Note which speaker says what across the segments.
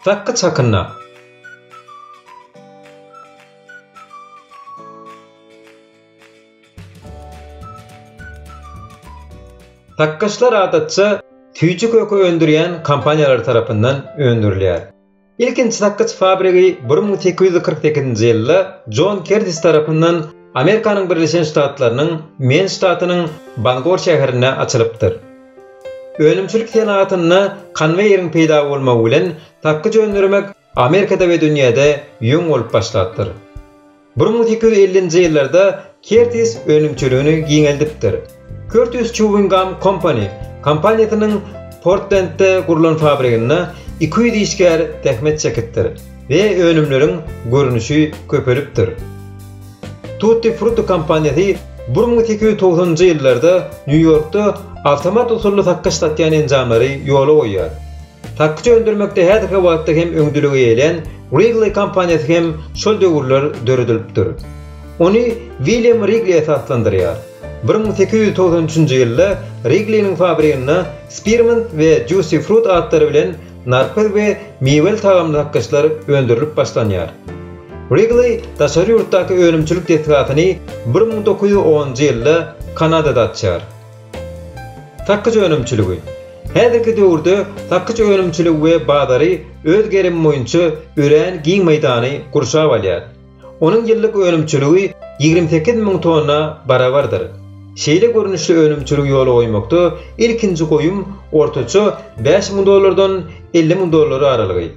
Speaker 1: Dakga çakynda. Dakgaçlar adatça süýji köke öndürýän kompaniýalar tarapyndan öndürilýär. Ilkinji sakgyç fabrigi bir müň sekiz ýüz kyrk sekizinji ýylda Jon Kertis tarapyndan Amerikanyň Birleşen Ştatlarynyň Men ştatynyň Bangor şäherinde açylypdyr. Önümçilik senagatynda konweýeriň peýda bolmagy bilen sakgyç öndürmek Amerikada we dünýäde ýöň bolup başlapdyr. Bir müň sekiz ýüz ellinji ýyllarda Kertis önümçiligini giňeldipdir. Curtis Chewing Gum Company kompaniýasynyň Portlendde gurlan fabriginde iki ýüz işgär zähmet çekipdir we önümleriň görnüşi köpelipdir. Tutti Frutti kompaniýasy bir müň sekiz ýüz togsanynjy ýyllarda Nýu-Ýorkda awtomat usully sakgyç satýan enjamlary ýola goýýar. Sakgyç öndürmekde häzirki wagtda hem öňdeligi eýelän Wrigley kompaniýasy hem şol döwürler döredilipdir. Ony William Wrigley esaslandyrýar. Bir müň sekiz ýüz togsan üçünji ýylda Wrigley-niň fabriginde Spearmint we Juicy Fruit atlary bilen narpyz we miweli tagamly sakgyçlar öndürilip başlanýar. Wrigley daşary ýurtdaky önümçilik desgasyny bir müň dokuz ýüz onunjy ýylda Kanadada açýar. Sakyç önümçiligi. Häzirki döwürde sakyç önümçiligi we bazary öz gerimi boýunça örän giň meýdany gurşap alýar. Onuň ýyllyk önümçiligi ýigrimi sekiz müň tonna barabardyr. Şeýle görnüşli önümçiligi ýola goýmakda ilkinji goýum ortaça bäş müň dollardan elli müň dollar aralygy.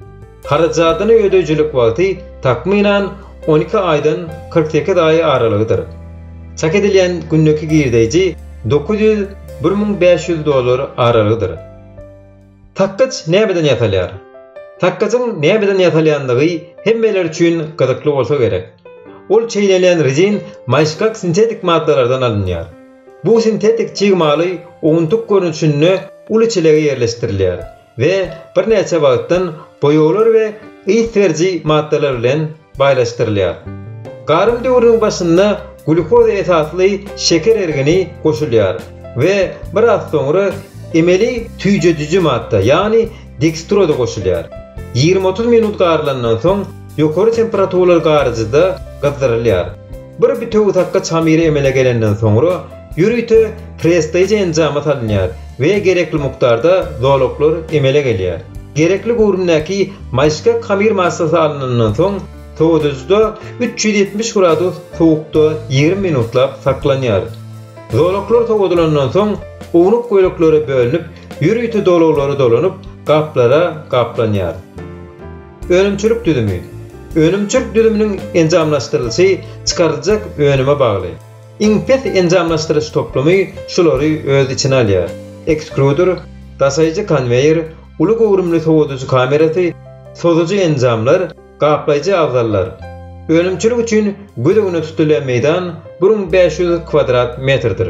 Speaker 1: Harajadyny ödeýjilik wagty, takmynan, on iki aýdan kyrk sekiz aý aralygydyr. Çak edilýän gündeki girdeýji dokuz ýüz, bir müň bäş ýüz dollar aralygydyr. Takgyç nämeden ýasalýar? Takgyjyň nämeden ýasalýandygy hemmeler üçin gyzykly bolsa gerek. Ol çeýnelýän rezin maýyşgak sintetik maddalardan alynýar. Bu sintetik çig maly owuntyk görnüşinde uly çelege ýerleşdirilýär. we birnäçe wagtdan boýaglar we ys beriji maddalar bilen baýlaşdyrylýar. Garym döwrüniň başynda glýukoza esasly şeker ergini goşulýar we biraz soňra emeli tüýjediji madda, ýagny dekstroza goşulýar. Ýigrimi-otuz minut garylandan soň ýokary temperaturaly garyjyda gyzdyrylýar. Bir bitewi takga çamyry emele gelenden soňra, ýörite pressdaýja enjamy salynýar we gerekli mukdarda zolaklar emele gelýär. Gerekli göwrümdäki maýyşgak hamyr massasy alynandan soň, sowadyjyda üç ýüz ýetmiş gradus sowukda ýigrimi minutlap saklanýar. Zolaklar sowadylandan soň, ownuk böleklere bölünip, ýörite dolaglary dolanyp, gaplara gaplanýar. Önümçilik düzümi. Önümçilik düzüminiň enjamlaşdyrylyşy çykaryljak önüme bagly. Iň pes enjamlaşdyryş toplumy şulary öz içine alýar, ekstruder, daşaýjy konweýer, uly göwrümli sowadyjy kamerasy, sozujy enjamlar, gaplaýjy abzallar. Önümçilik üçin göz öňüne tutulýan meýdan bir müň bäş ýüz kwadrat metrdir.